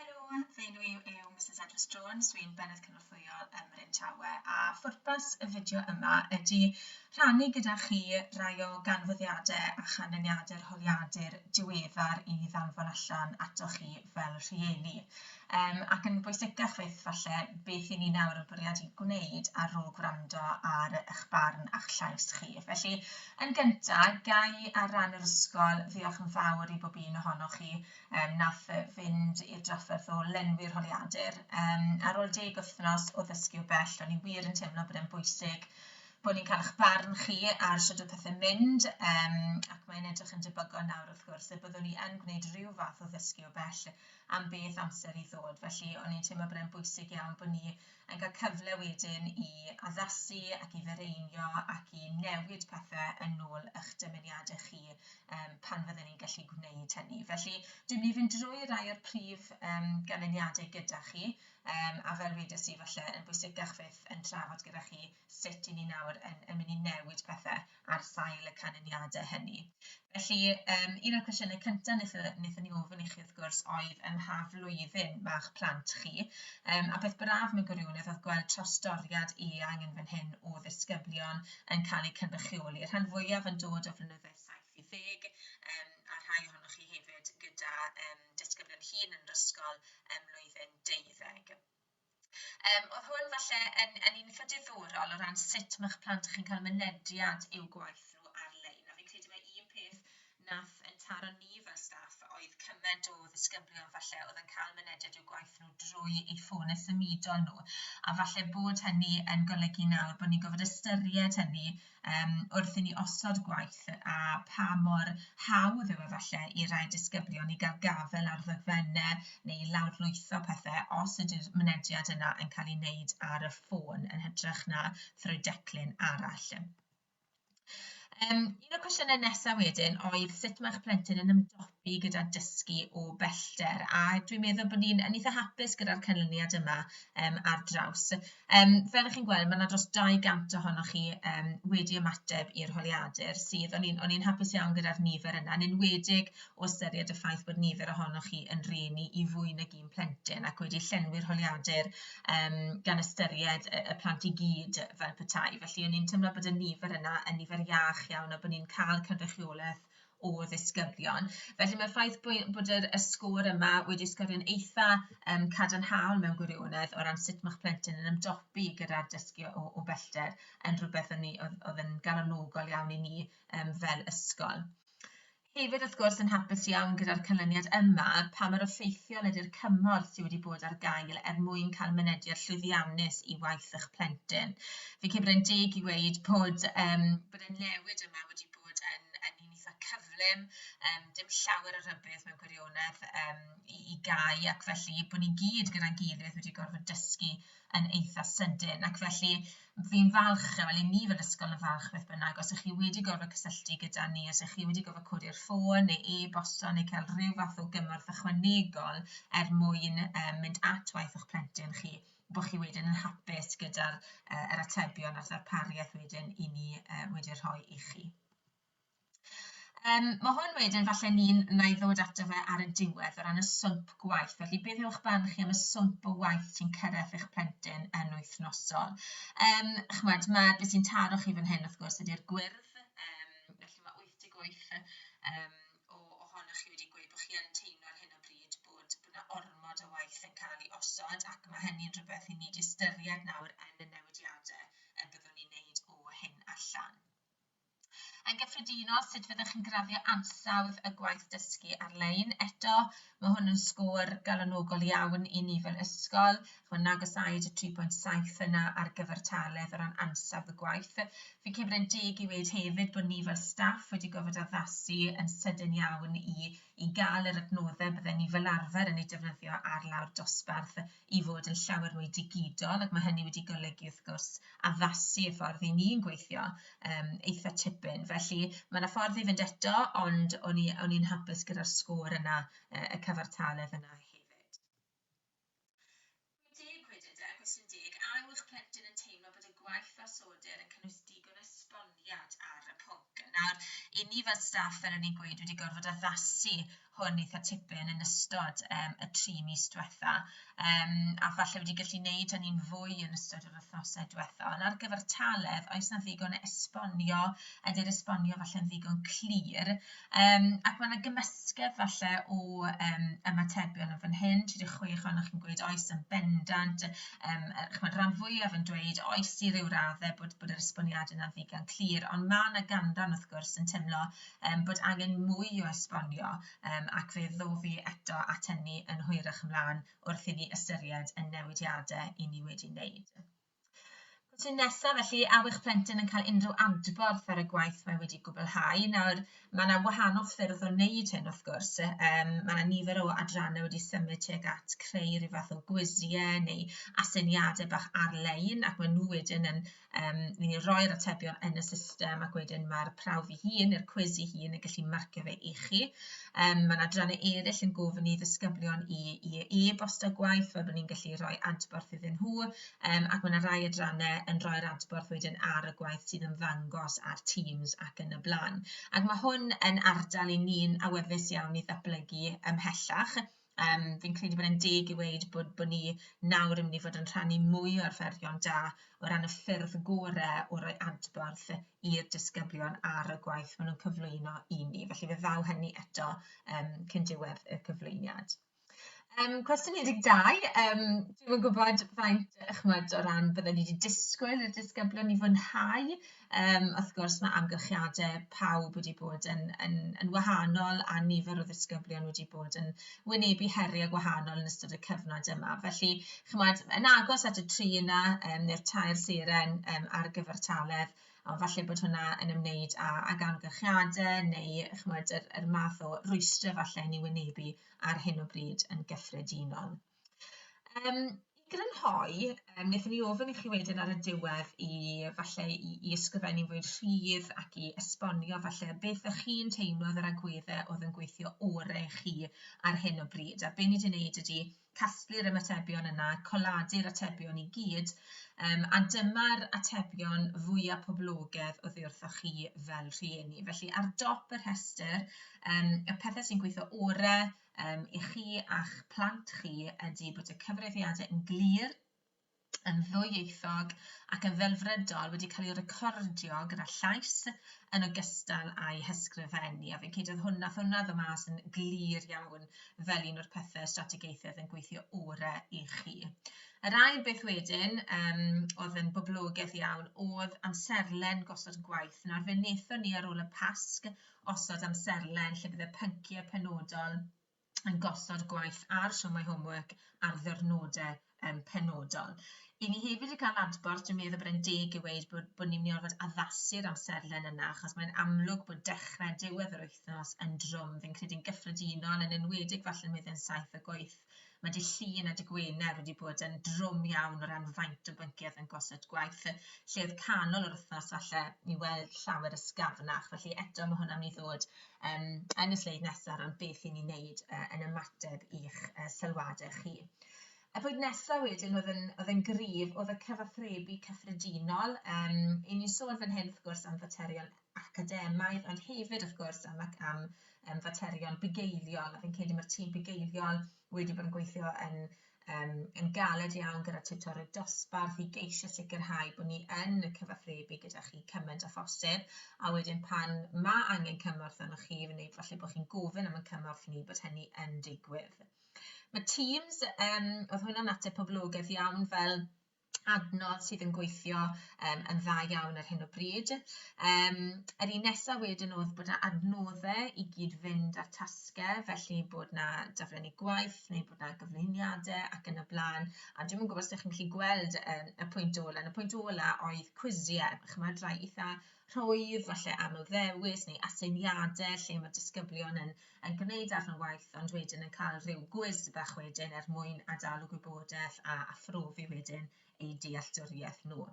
Helo, fy enw i yw Misus Edris Jones, dwi'n Bennaeth Cynorthwyol ym Mryn Tawe, a phwrpas y fideo yma ydy rhannu gyda chi rai o ganfyddiadau a chanlyniadau'r holiadur diweddar i ddanfon allan atoch chi fel rhieni, um, ac yn bwysicach fyth falle, beth i ni nawr yn bwriadu gwneud ar ôl gwrando ar eich barn a'ch llais chi. Felly, Yn gynta, ga i ar ran yr ysgol ddiolch yn fawr i bob un ohonoch chi yym nath yy fynd i'r drafferth o lenwi'r holiadur. Yym ar ôl deg wythnos o ddysgu o bell, o'n i wir yn teimlo bod e'n bwysig bod ni'n cael eich barn chi ar sut oedd pethe'n mynd yym ac mae'n edrych yn debygol nawr wrth gwrs y byddwn i yn gwneud rhyw fath o ddysgu o bell am beth amser i ddod felly o'n i'n teimlo bod e'n bwysig iawn bod ni yn cael cyfle wedyn i addasu ac i fireinio ac i newid pethe yn ôl ych dymuniade chi yym pan fydden ni'n gallu gwneud hynny. Felly dwi'n mynd i fynd drwy rai o'r prif yym ganlyniade gyda chi yym a fel wedes i falle yn bwysicach fyth yn trafod gyda chi sut i ni nawr yn yn mynd i newid pethe ar sail y canlyniadau hynny. Felly yym un o'r cwestiynau cynta' nethon nethon ni ofyn i chi wrth gwrs oedd ym mha flwyddyn ma'ch plant chi yym a peth braf mewn gwirionedd oedd gweld trawsdoriad eang yn fan hyn o ddisgyblion yn cael eu cynrychioli, y rhan fwyaf yn dod o flynydde saith i ddeg yym a rhai ohonoch chi hefyd gyda yym disgyblion hŷn yn yr ysgol ym mlwyddyn deuddeg. Yym oedd hwn falle yn yn un eitha' diddorol o ran sut ma'ch plant chi'n cael mynediad i'w gwaith nhw ar-lein, a fi'n credu mai un peth wnaeth ein taro ni fel staff oedd cyment o ddisgyblion falle oedd yn cael mynediad i'w gwaith nhw drwy eu ffônau symudol nhw, a falle bod hynny yn golygu nawr bod ni'n gorfod ystyried hynny um, wrth i ni osod gwaith a pa mor hawdd yw efallai i rai disgyblion i gael gafel ar ddogfennau neu i lawrlwytho pethau os ydy'r mynediad yna yn cael ei wneud ar y ffôn yn hytrach na thrwy declyn arall. Um, un o'r cwestiynau nesaf wedyn oedd sut mae'ch plentyn yn ymdopi fi gyda dysgu o bellter a dwi'n meddwl bod ni'n yn eitha hapus gyda'r canlyniad yma yym ar draws. Yym fel 'ych chi'n gweld ma' 'na dros 200 ohonoch chi yym wedi ymateb i'r holiadur sydd o'n i'n o'n i'n hapus iawn gyda'r nifer yna yn enwedig o ystyried y ffaith bod nifer ohonoch chi yn rhieni i fwy nag un plentyn ac wedi llenwi'r holiadur yym gan ystyried y y plant i gyd fel petai felly o'n i'n teimlo bod y nifer yna yn nifer iach iawn a bo' ni'n ca'l cynrychioleth o ddisgyblion. Felly mae'r ffaith bod yr y sgôr yma wedi sgorio'n eitha um, cadarnhaol mewn gwirionedd o ran sut mae'ch plentyn yn ymdopi gyda'r dysgu o, o bellter yn rhywbeth o'n ni, oedd, oedd yn galonogol iawn i ni um, fel ysgol. Hefyd, wrth gwrs, yn hapus iawn gyda'r canlyniad yma, pa mae'r effeithiol ydy'r cymorth sydd wedi bod ar gael er mwyn cael mynediad llwyddiannus i waith eich plentyn. Fi'n credu bod e'n deg i weid bod, um, bod y newid yma wedi bod yn, yn un eitha cyflym, um, dim llawer o rybydd mewn gwirionedd um, i, i gau, ac felly bod ni gyd gyda'n gilydd wedi gorfod dysgu yn eitha sydyn. Ac felly fi'n falch, wel i ni fel ysgol yn falch beth bynnag, os ych chi wedi gorfod cysylltu gyda ni, os ych chi wedi gorfod codi'r ffôn neu e-bosto neu cael rhyw fath o gymorth ychwanegol er mwyn um, mynd at waith o'ch plentyn chi, bod chi wedyn yn hapus gyda'r uh, yr atebion a'r ddarpariaeth wedyn i ni uh, wedi rhoi i chi. Um, mae hwn wedyn, falle ni'n na i ddod ato fe ar y diwedd o ran y swmp gwaith. Felly, beth yw'ch barn chi am y swmp o waith sy'n cyrraedd eich plentyn yn wythnosol? Um, chymod, mae beth sy'n taro chi fan hyn, wrth gwrs, ydy'r gwyrdd. Um, felly, mae 88 um, o ohonoch chi wedi gweud bod chi yn teimlo ar hyn o bryd bod bod 'na ormod o waith yn cael ei osod ac mae hynny'n rhywbeth i ni 'di ystyried nawr yn y newidiadau y byddwn ni'n neud o hyn allan. Yn gyffredinol, sut fyddwch chi'n graddio ansawdd y gwaith dysgu ar-lein? Eto, mae hwn yn sgôr galonogol iawn i ni fel ysgol, Chimod, na gasáid y 3.7 yna ar gyfartaledd o ran ansawdd y gwaith. Fi'n credu bod e'n deg i weud hefyd bod ni fel staff wedi gorfod addasu yn sydyn iawn i i gael yr adnoddau bydden ni fel arfer yn eu defnyddio ar lawr dosbarth i fod yn llawer mwy digidol ac mae hynny wedi golygu wrth gwrs addasu y ffordd i ni'n gweithio um, eitha tipyn. Felly mae yna ffordd i fynd eto ond o'n i'n hapus gyda'r sgôr yna, y cyfartaledd yna Rwy'n deg wedyn, de, cwestiwn deg, a yw'ch plentyn yn teimlo bod y gwaith ar Soder yn cynnwys digon o esboniad ar y pwnc? Nawr, 'y ni fel staff, fel o'n i'n gweud, wedi gorfod addasu hwn eitha' tipyn yn ystod yym y tri mis diwetha', yym a falle wedi gallu neud hynny'n fwy yn ystod yr wythnose diwetha'. Ond ar gyfer Talef, oes 'na ddigon o esbonio, ydi'r esbonio falle'n ddigon clir? Um, ac mae yna gymysgedd falle o um, ymatebion yn fan hyn, 36 ohonoch chi'n gweud oes yn bendant, um, chymod, rhan fwyaf yn dweud oes i ryw raddau bod, bod yr esboniad yna ddigon clir, ond mae yna ganran wrth gwrs yn teimlo um, bod angen mwy o esbonio um, ac fe ddofi eto at hynny yn hwyrach ymlaen wrth i ni ystyried y newidiadau i ni wedi wneud. Cwestiwn nesaf felly, a yw'ch plentyn yn cael unrhyw adborth ar y gwaith mae wedi gwblhau? Nawr, mae 'na wahanol ffyrdd o wneud hyn wrth gwrs, yym mae 'na nifer o adrannau wedi symud tuag at creu rhyw fath o gwisiau neu aseiniadau bach ar-lein ac maen nhw wedyn yn yym ni'n ni'n rhoi'r atebion yn y system ac wedyn ma'r prawf ei hun neu'r cwis ei hun yn gallu marcio fe i chi. Yym mae 'na adrannau eraill yn gofyn i ddisgyblion i i e-bostio gwaith fel bod ni'n gallu rhoi adborth iddyn nhw. um, ac mae yna rai adrannau yn rhoi'r adborth wedyn ar y gwaith sy'n ymddangos ar Teams ac yn y blaen. Ac mae hwn yn ardal i ni'n awyddus iawn i ddatblygu ymhellach. Um, fi'n credu bod e'n deg i weid bod, bod ni nawr yn mynd i fod yn rhannu mwy o'r fferion da o ran y ffyrdd gorau o roi adborth i'r disgyblion ar y gwaith maen nhw'n cyflwyno i ni. Felly fe ddaw hynny eto um, cyn diwedd y cyflwyniad. Um, cwestiwn 12, um, dwi'n yn gwybod faint, chymod, o ran byddwn ni wedi disgwyl i'r disgyblion i fwynhau. Um, wrth gwrs, mae amgylchiadau pawb wedi bod yn, yn, yn wahanol a nifer o ddisgyblion wedi bod yn wynebu heriau gwahanol yn ystod y cyfnod yma. Felly, chymod, yn agos at y tri yna, um, neu'r tair seren um, ar gyfartaledd, ond falle bod hwnna yn ymwneud â, ag amgylchiadau neu chymod, yr, yr math o rwystrau falle ni'n wynebu ar hyn o bryd yn gyffredinol. Um, I grynhoi, um, wnaethon ni ofyn i chi wedyn ar y diwedd i falle i, i ysgrifennu fwy'n rhydd ac i esbonio falle beth ych chi'n teimlo oedd yr agweddau oedd yn gweithio orau chi ar hyn o bryd. A be ni wedi wneud ydy casglu'r ymatebion yna, coladu'r atebion i gyd, um, a dyma'r atebion fwyaf poblogedd o ddiwrthoch chi fel rhieni. Felly ar dop y rhestr, um, y pethau sy'n gweithio orau um, i chi a'ch plant chi ydy bod y cyfrifiadau yn glir, yn ddwyieithog ac yn ddelfrydol wedi cael ei recordio gyda llais yn ogystal â'i hysgrifennu, a fi'n credu oedd hwnna, wnaeth hwnna ddod mas yn glir iawn fel un o'r pethe strategaethau oedd yn gweithio orau i chi. Yr ail beth wedyn yym oedd yn boblogaidd iawn oedd amserlen gosod gwaith. Nawr fe wnaethon ni ar ôl y Pasg osod amserlen lle bydd y pynciau penodol yn gosod gwaith ar siomau homework ar ddyrnodau um, penodol. I ni hefyd yn cael adborth, dwi'n meddwl bod e'n deg i weid bod, bod ni'n mynd i orfod addasu'r amserlen yna, achos mae'n amlwg bod dechrau diwedd yr wythnos yn drwm, fi'n credu'n gyffredinol, yn enwedig falle yn wedyn saith y gweith. Mae dy llun a dy gwener wedi bod yn drwm iawn o ran faint o bynciau yn gosod gwaith, lle oedd canol yr wythnos falle i weld llawer ysgafnach, felly eto mae hwnna'n mynd i ddod um, yn y sleid nesaf am beth i ni wneud uh, yn ymateb i'ch uh, sylwadau chi. Y pwynt nesaf wedyn oedd yn, oedd yn gryf oedd y cyfathrebu cyffredinol. Um, I ni'n sôn fan hyn, wrth gwrs, am faterion academaidd, ond hefyd, wrth gwrs, am, am um, faterion bugeiliol. A fi'n credu mae'r tîm bugeiliol wedi bod yn gweithio yn um, yn galed iawn gyda tiwtorydd dosbarth i geisio sicrhau bod ni yn y cyfathrebu gyda chi cymaint â phosib, a wedyn pan mae angen cymorth arnoch chi, fe wneud falle bod chi'n gofyn am y cymorth ni bod hynny yn digwydd. Mae Teams, um, oedd hwnna'n ateb poblogaeth iawn fel adnodd sydd yn gweithio um, yn dda iawn ar hyn o bryd. Um, yr un nesaf wedyn oedd bod yna adnoddau i gyd fynd â'r tasgau, felly bod yna daflenni gwaith neu bod yna gyflwyniadau ac yn y blaen. A dwi'n gwybod os ydych chi'n gallu gweld um, y pwynt ola. Yn y pwynt ola oedd cwisiau, chymod, rhai eitha rhwydd, falle aml ddewis neu aseiniadau lle mae disgyblion yn yn gwneud darn o waith ond wedyn yn cael rhyw gwis bach wedyn er mwyn adalu gwybodaeth a aphrofi wedyn eu dealltwriaeth nhw.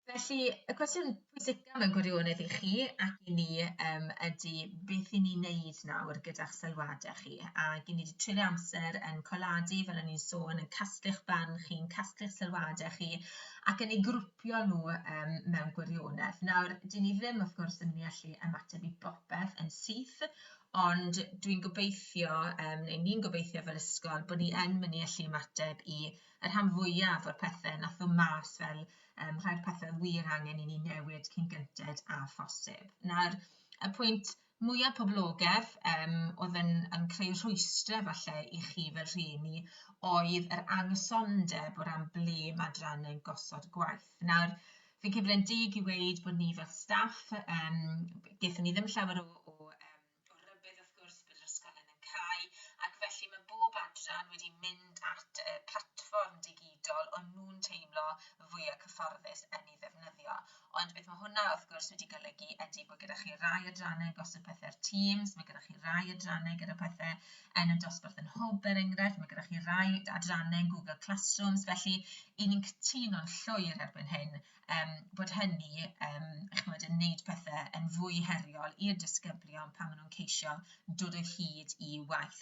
Felly, y cwestiwn pwysicaf mewn gwirionedd i chi ac i ni um, ydy beth i ni wneud nawr gyda'ch sylwadau chi. A i ni wedi treulio amser yn coladu, fel o'n i'n sôn, yn casglu'ch barn chi'n casglu'ch sylwadau chi ac yn ei grwpio helpu nhw um, mewn gwirionedd. Nawr, dyn ni ddim, wrth gwrs, yn mynd i allu ymateb i bopeth yn syth, ond dwi'n gobeithio, um, neu ni'n gobeithio fel ysgol, bod ni yn mynd i allu ymateb i y rhan fwyaf o'r pethau nath o mas fel um, rhai'r pethau wir angen i ni newid cyn gynted a phosib. Nawr, y pwynt mwya poblogedd yym oedd yn yn creu rhwystre falle i chi fel rhieni oedd yr anghysondeb o ran ble ma' adrannau'n gosod y gwaith. Nawr fi'n credu bod e'n deg i weud bod ni fel staff yym gaethon ni ddim llawer o o yym o rybudd wrth gwrs bod yr ysgolion yn cau ac felly mae bob adran wedi mynd at y platfform digidol o'n nhw'n teimlo fwya' cyfforddus yn ei ddefnyddio. Ond beth mae hwnna wrth gwrs wedi golygu ydy bod gyda chi rai adrannau yn gosod pethe ar Teams, mae gyda chi rai adrannau gyda pethe yn y dosbarth yn Hwb er enghraifft, mae gyda chi rai adrannau yn Google Classrooms, felly 'y ni'n cytuno'n llwyr erbyn hyn yym bod hynny yym chimod yn wneud pethe yn fwy heriol i'r disgyblion pan maen nhw'n ceisio dod o hyd i waith.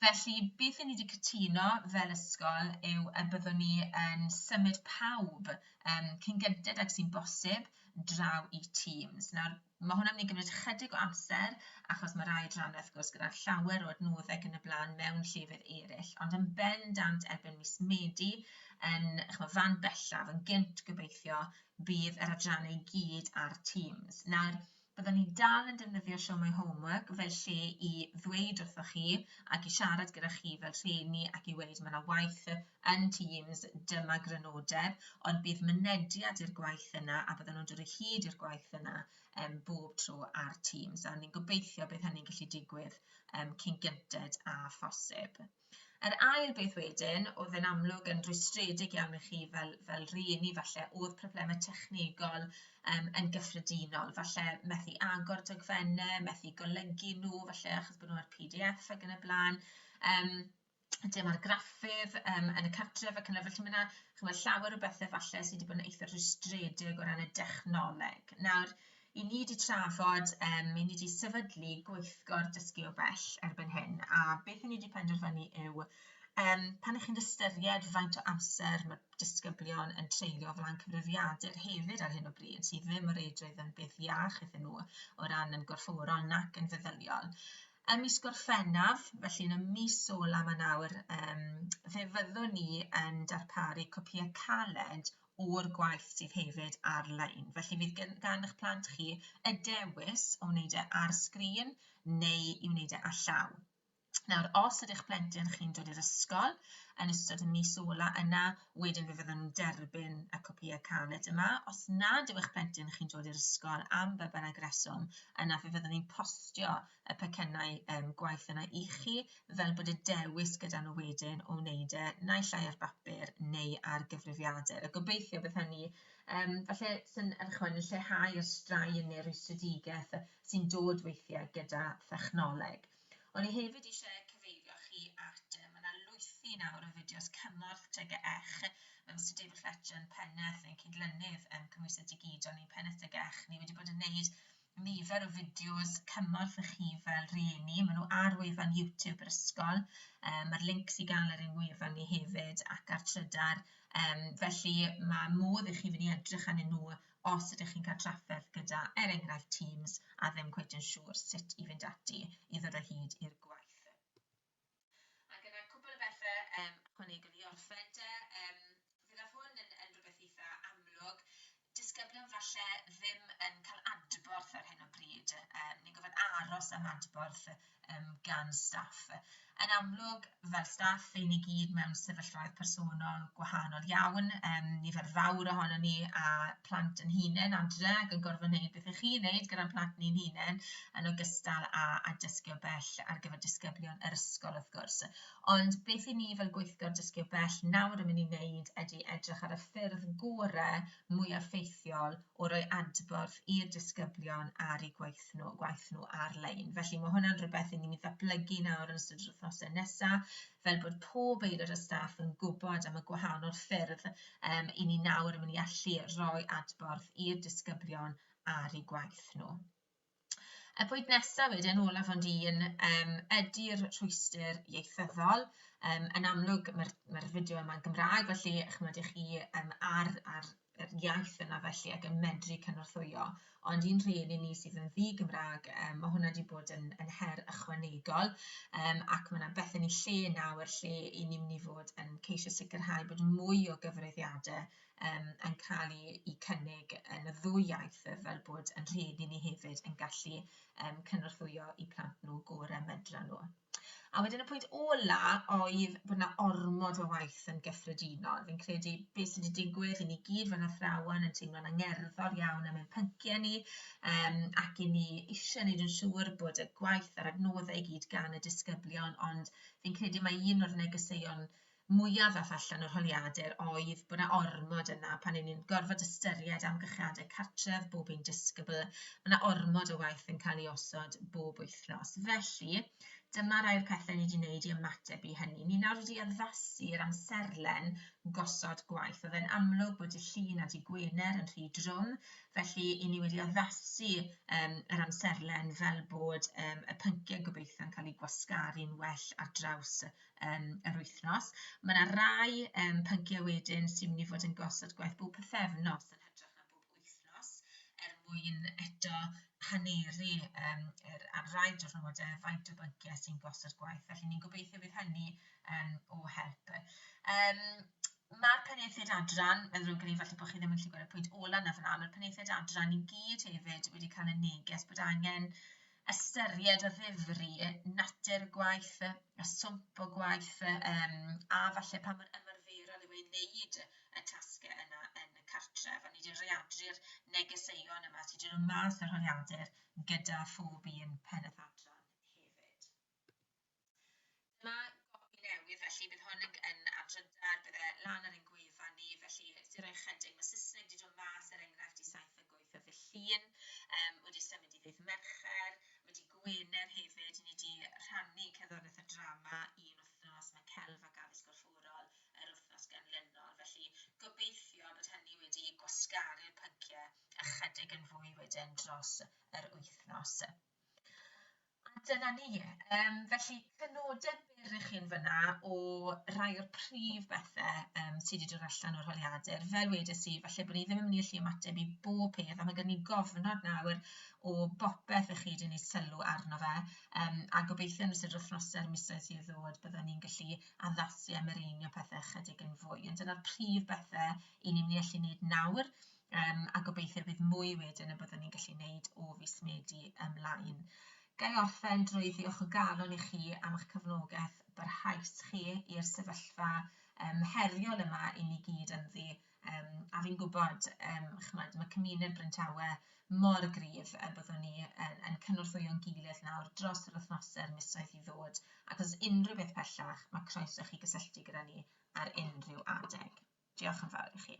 Felly beth 'yn ni 'di cytuno fel ysgol yw y byddwn ni yn symud pawb yym cyn gynted ag sy'n bosib draw i Teams. Nawr Mae hwn yn mynd i gymryd ychydig o amser achos mae rhai adrannau wrth gwrs gyda llawer o adnoddau ac yn y blaen mewn llefydd eraill, ond yn bendant erbyn mis Medi yn ch'mo' fan bellaf, yn gynt gobeithio, bydd yr adrannau i gyd ar Teams. Nawr, byddwn ni dal yn defnyddio Show My Homework fel lle i ddweud wrthoch chi ac i siarad gyda chi fel rhieni ac i weud mae yna waith yn Teams, dyma grynodeb, ond bydd mynediad i'r gwaith yna a bydden nhw'n dod o hyd i'r gwaith yna um, bob tro ar Teams. A ni'n gobeithio bydd hynny'n gallu digwydd um, cyn gynted a phosib. Yr ail beth wedyn, oedd yn amlwg yn rwystredig iawn i chi fel, fel rhieni falle, oedd problemau technegol yym yn gyffredinol, falle methu agor dogfennau, methu golygu nhw, falle achos bod nhw ar PDF ac yn y blaen, yym dim argraffydd yym yn y cartref ac yn y blaen, felly ma' 'na chimod llawer o bethe falle sy' 'di bod yn eitha' rhwystredig o ran y dechnoleg. Nawr, 'yn ni 'di trafod yym 'yn ni 'di sefydlu gweithgor dysgu o bell erbyn hyn, a beth 'yn ni 'di penderfynu yw yym pan 'ych chi'n ystyried faint o amser ma' disgyblion yn treulio flaen cyfrifiadur hefyd ar hyn o bryd sydd ddim o reidrwydd yn beth iach iddyn nhw o ran yn gorfforol nac yn feddyliol. Ym mis Gorffennaf, felly yn y mis ola yma nawr, um, fe fyddwn ni yn darparu copïau caled o'r gwaith sydd hefyd ar-lein. Felly fydd gan, gan eich plant chi y dewis o wneud e ar sgrin neu i wneud e a llaw. Nawr, os ydych plentyn chi'n dod i'r ysgol yn ystod y mis ola yna, wedyn fe fyddwn nhw'n derbyn y copïau caled yma. Os nad yw eich plentyn chi'n dod i'r ysgol am be bynnag reswm, yna fe fyddwn ni'n postio y pecynnau um, gwaith yna i chi, fel bod y dewis gyda nhw wedyn o wneud e naill ai ar bapur neu ar gyfrifiadur. A gobeithio bydd hynny, um, falle sy'n erchwain yn lleihau'r straen neu'r rwystredigaeth sy'n dod weithiau gyda thechnoleg. O'n i hefyd eisiau eich cyfeirio chi at, yy, ma' 'na lwythi nawr o fideos cymorth TGECH, ma' Mister David Fletcher yn Pennaeth ein Cydlynydd yym Cymhwyso Digidol ni, Pennaeth TGECH ni wedi bod yn wneud nifer o fideos cymorth i chi fel rhieni, maen nhw ar wefan YouTube yr ysgol, um, mae'r links i gael ar ein wefan ni hefyd ac ar Trydar, um, felly mae modd i chi fynd i edrych arnyn nhw Os ydych chi'n cael trafferth gyda, er enghraifft, Teams a ddim cweit yn siŵr sut i fynd ati i ddod o hyd i'r gwaith. Ac yna cwpl o bethe yym ychwanegol i orffen 'de. Yym fe ddaw hwn yn yn rwbeth eitha amlwg. Disgyblion falle ddim yn cael adborth ar hyn o bryd. Yym ni'n gorfod aros am adborth um, gan staff. Yn amlwg, fel staff, ein ni gyd mewn sefyllfaoedd personol gwahanol iawn. Um, nifer fawr ohono ni a plant yn hunain adre ac yn gorfod wneud beth ych chi'n wneud gyda'n plant ni'n hunain yn ogystal â, a dysgu o bell ar gyfer disgyblion yr ysgol wrth gwrs. Ond beth i ni fel gweithgor dysgu o bell nawr yn mynd i wneud ydy edrych ar y ffyrdd gorau mwyaf ffeithiol o roi adborth i'r disgyblion ar eu gwaith nhw, gwaith nhw ar-lein. Felly mae hwnna'n rhywbeth i ni'n mynd i ddatblygu nawr yn ystod yr wythnosau nesaf, fel bod pob aelod o staff yn gwybod am y gwahanol ffyrdd um, i ni nawr yn mynd i allu rhoi adborth i'r disgyblion ar eu gwaith nhw. Y pwynt nesaf wedyn, olaf ond un, um, ydy'r rhwystyr ieithyddol. Um, yn amlwg, mae'r mae fideo yma'n Gymraeg, felly chymod i chi um, ar, ar yr iaith yna felly ac yn medru cynorthwyo. Ond un rhain i ni sydd yn ddi Gymraeg, um, mae hwnna wedi bod yn, yn her ychwanegol um, ac mae yna beth yn ei lle nawr lle i ni'n mynd i fod yn ceisio sicrhau bod mwy o gyfrifiadau um, yn cael ei, ei cynnig yn y ddwy iaith fel bod yn rhyd i ni hefyd yn gallu um, cynorthwyo i plant nhw gorau medra nhw. A wedyn y pwynt ola oedd bod yna ormod o waith yn gyffredinol. Fi'n credu beth sydd wedi digwydd i ni gyd fel athrawon yn teimlo'n angerddol iawn am ein pynciau ni um, ac i ni eisiau gwneud yn siŵr bod y gwaith a'r adnoddau i gyd gan y disgyblion ond fi'n credu mae un o'r negeseuon mwyaf ddaeth allan o'r holiadur oedd bod 'na ormod yna pan 'yn ni'n gorfod ystyried amgylchiadau cartref bob un disgybl, ma' 'na ormod o waith yn cael ei osod bob wythnos. Felly, dyma rai'r pethe ni 'di neud i ymateb i hynny. Ni nawr wedi addasu'r amserlen gosod gwaith. O'dd e'n amlwg bod dy' Llun a dy' Gwener yn rhy drwm, felly 'yn ni wedi addasu yym yr amserlen fel bod yym y pyncie gobeithio'n cael eu gwasgaru'n well ar draws y yym yr wythnos. Mae 'na rai yym pynciau wedyn sy'n mynd i fod yn gosod gwaith bob pythefnos yn hytrach na bob wythnos er mwyn eto haneru yym yr... ar rai diwrnodau faint o bynciau sy'n gosod gwaith, felly ni'n gobeithio bydd hynny yym o help. Yym ma'r penaethiaid adran, mae'n ddrwg gen i falle bod chi ddim yn gallu gweld y pwynt ola' 'na fan'na, ma'r penaethiaid adran i gyd hefyd wedi cael y neges bod angen ystyried a ddifri natur y gwaith yy a swmp o gwaith yy yym a falle pa mor ymarferol yw e i wneud y tasge yna yn y cartref a ni di readru'r negeseuon yma sy di dod mas o'r holiadur gyda phob un pennaeth adran hefyd. Dyma gopi newydd felly bydd hwn yn yn am drydar bydde lan ar ein gwefan ni felly jyst i roi ychydig ma' Sysneg di dod mas er enghraifft di saith deg wyth o ddy Llun yym wedi symud i ddydd Mercher ma' di Gwener hefyd ni di rhannu cerddoriaeth a drama un wythnos ma' Celf ac Addysg Gorfforol yr wythnos ganlynol felly gobeithio bod hynny wedi gwasgaru'r pyncie ychydig yn fwy wedyn dros yr wythnos. A dyna ni. Yym felly cyfnodau byr i chi yn fan'na o rai o'r prif bethe yym sy' 'di dod allan o'r holiadur. Fel wedes i, falle bod ni ddim yn mynd i allu ymateb i bob peth, a ma' gen i gofnod nawr o bopeth 'ych chi 'di neud sylw arno fe, yym a gobeithio yn ystod yr wythnose a'r misoedd sydd i ddod bydden ni'n gallu addasu a mireinio pethe ychydig yn fwy, ond dyna'r prif bethe 'yn ni'n mynd i allu neud nawr. Um, a gobeithio bydd mwy wedyn y byddwn ni'n gallu wneud o fus Medi ymlaen. Ga i orffen drwy ddiolch o galon i chi am eich cefnogaeth barhaus chi i'r sefyllfa um, heriol yma i ni gyd ynddi. Um, a fi'n gwybod, um, chymod, mae cymuned Bryntawe mor gryf y byddwn ni yn, yn cynorthwyo'n gilydd nawr dros yr wythnosau'r misoedd i ddod, ac os unrhyw beth pellach, mae croeso chi gysylltu gyda ni ar unrhyw adeg. Diolch yn fawr i chi.